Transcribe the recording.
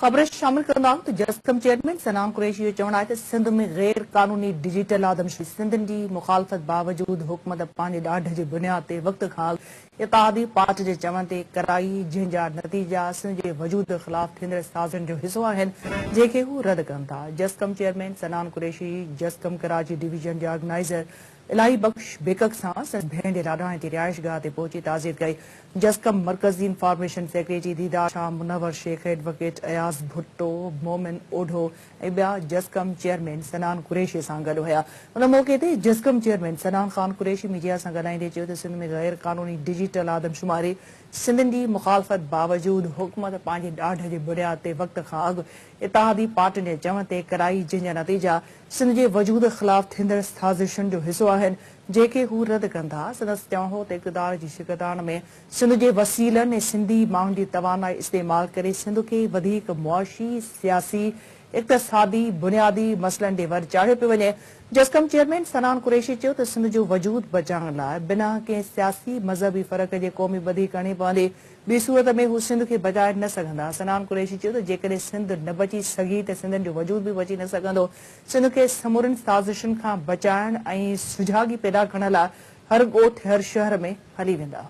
خبر شامل ڪرندو آهيون ته جسقم چيئرمين صنعام قريشي جو چوڻ آهي ته سنڌ ۾ غير قانوني ڊجيٽل آدمشي سنڌين جي مخالفت باوجود حڪومت پنهنجي ڏاڍ جي بنياد تي وقت کان اڳ اتحادي پارٽ جي چوڻ تي ڪرائي جنهن جا نتيجا سنڌ جي وجود خلاف ٿيندڙ سازشن جو حصو آهن جنهن کي هو رد ڪن ٿا جسقم چيئرمين صنعام قريشي جسقم ڪراچي ڊويزن جي آرگنائيزر الاهي بخش بيڪڪ سان سندس ڀيڻ جي لاڏاڻي جي رهائشگاهه تي پهچي تعزيت ڪئي. جسقم مرڪزي information secretary Didar Shah, Munawar Shaikh, advocate Ayaz Bhutto, Momin Odho ۽ ٻيا جسقم چيئرمين سنان قريشي سان گڏ هيا. ان موقعي تي جسقم چيئرمين سنان خان قريشي ميڊيا سان ڳالهائيندي چيو ته سنڌ ۾ غير قانوني ڊجيٽل آدمشماري سنڌين جي مخالفت باوجود حڪومت پنهنجي ڏاڍ جي بنياد تي وقت کان اڳ اتحادي پارٽين جي چوڻ تي ڪرائي جنهن جا نتيجا سنڌ جي وجود خلاف ٿيندڙ سازشن جو حصو آهن جيڪي هو رد ڪندا سندس چوڻ هو ته اقتدار جي شڪتاڻ ۾ سنڌ جي وسيلن ۽ سنڌي ماڻهن جي توانائي استعمال ڪري سنڌ کي وڌيڪ معاشي سياسي اقتصادي بنيادي مسئلن ڏي ور چاڙهيو پيو وڃي جسقم چيئرمين سنان قريشي چيو ته سنڌ جو وجود بچائڻ لاء بنا ڪنهن سياسي مذهبي فرق جي قومي ٻڌي ڪرڻي پوندي ٻي صورت ۾ هو سنڌ کي بچائي نه سگهندا. صنعان قريشي چيو ته جيڪڏهن سنڌ نه بچي سگهي ته سنڌين جو وجود به بچي نه سگهندو. سنڌ کي سمورين سازشن کان بچائڻ ۽ سجاڳي پيدا ڪرڻ لاء هر ڳوٺ، هر شهر ۾ هلي ويندا.